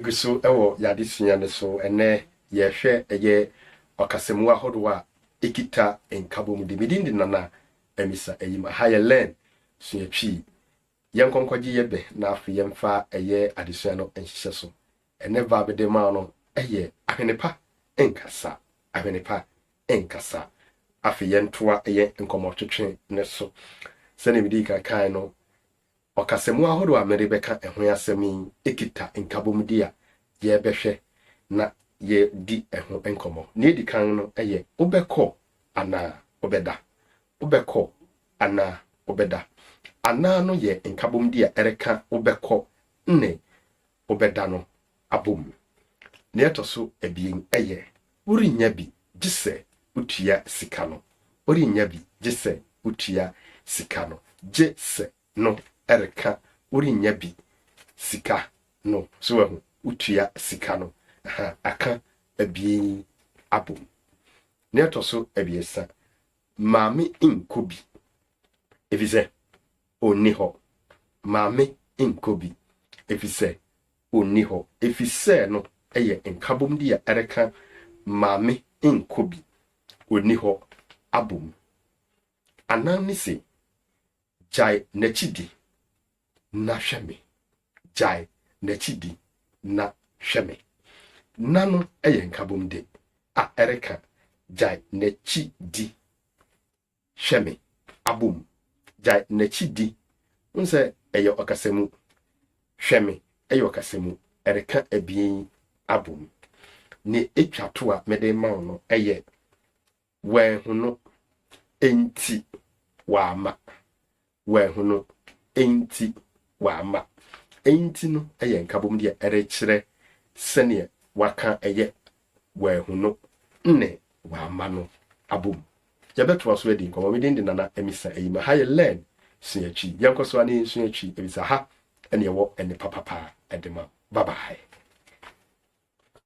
Gu so wɔ yɛn adesua no so. Ɛnnɛ yɛrehwɛ ɛyɛ ɔkasamu ahorow a ekita nkabom de. Me din de Nana Amisa Ayim. Aha yɛ Learn, Sua Twi. Yɛnkɔ nkɔgye yɛ bɛ na afei yɛmfa ɛyɛ adesua no nhyehyɛ so. Ɛnnɛ verb mede rema wo no yɛ Ahwene pa nkasa, Ahwene pa nkasa. Afei yɛntoa yɛn nkɔmmɔtwetwe no so. Sɛnea midii kan kae no, Ɔkasamu ahorow a mede bɛka ɛho asɛm yi kita nkabomde a yɛbɛhwɛ na yɛadi ho nkɔmmɔ. Nea edi kan no yɛ Wobɛkɔ Anaa Wobɛda? Wobɛkɔ Anaa Wobɛda? Anaa no yɛ nkabomde a ɛreka wobɛkɔ ne wobɛda no abom. Nea ɛtɔ so abien yɛ, worennya bi gye sɛ wotua sika no. Worennya bi gye sɛ wotua sika no. Gye sɛ no reka worennya bi sika no. So wahu? Wotua sika no. Aha, aka abien yi abom. Nea ɛtɔ so abiɛsa, Maame nkɔ bi, efisɛ Onni hɔ. Maame nkɔ bi, efisɛ onni hɔ. Efisɛ no yɛ nkabomde a ɛreka maame nkɔ bi, onni hɔ abom. Anan no se, Gyae n'akyi di, na hwɛ me. Gyae n'akyi di, na hwɛ me. Na no yɛ nkabomde a ɛreka gyae n'akyi di. Hwɛ me, abɔ mu. Gyae n'akyi di. Wohu sɛ ɛyɛ ɔkasamu. Hwɛ me, ɛyɛ ɔkasamu. Ɛreka abien yi abɔ mu. Nea etwa to a mede rema wo no yɛ wanhu no, enti wamma. Wanhu no nti wamma. Nti no yɛ nkabom deɛ ɛrekyerɛ sɛdeɛ waka yɛ wanhu no ne wamma no abom. Yɛbɛtoa so adi nkɔmmɔ. Me din de Nana Amisa Ayima. Ha yɛ Learn, Sua Twi. Yɛnkɔ so ara na yɛnsua Twi ɛfiri sɛ ha na ɛwɔ nnepa papa de ma. Bye bye.